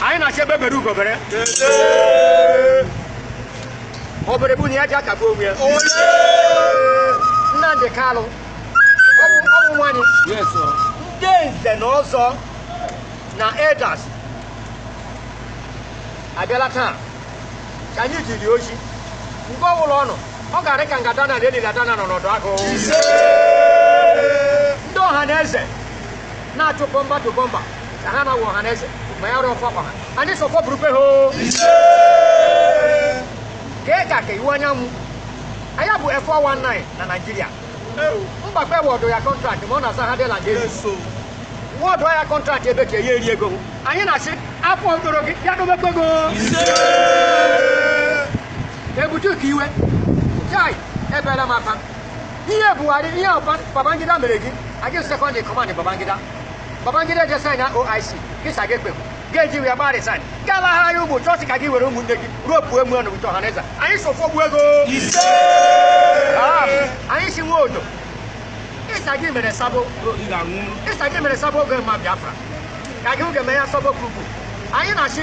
anyị na-achọ egbe bere ugo bere obere bụ na ya ji aka gbu onwe ya Nnamdi Kanu ọ wụ nwa anyị ndị nze na ọzọ na elders abịala taa ka anyị jiri ọjị mgbe ọbụla ọ nọ ọ ga-arị ka nga dana na eliri adana nọ n'ọdụ agụ ndị ọha na eze na-achụ bumper to bumper ka ha na-awụ ọha na eze ma ya rụọ ọfọ kwa ha anyị sị ọfọ burukwe ha o kee ka ka Iwuanyanwụ a ya bụ F419 na Naịjirịa Mbakwe award ya contract ma ọ na-asa Hardel and Enic award ya contract ebe ka ya eri ego anyị na-asị ọfọ mkpụrụ gị ya dobekwe go Ebitu Ukiwe chai ebere maka Ihe Buhari, ihe Oba- Babangida mere gị, a gị second in command Babangida. Babangida je sign na OIC, gị sa gị ekwe. Ga-eji wee gbaa resign. Gaa lahara ụmụ chọọchị ka gị were ụmụnne gị ruo pụọ emu ọnụ ụtọ Ọhaneze. Anyị sị ọfọ gbuo gị. Ah, Anyị sị Nwodo. Ịsa gị mere sabo. Ịsa gị mere sabo oge ma Biafra. Ka gị oge mee ya sabo kwuru. Anyị na-achị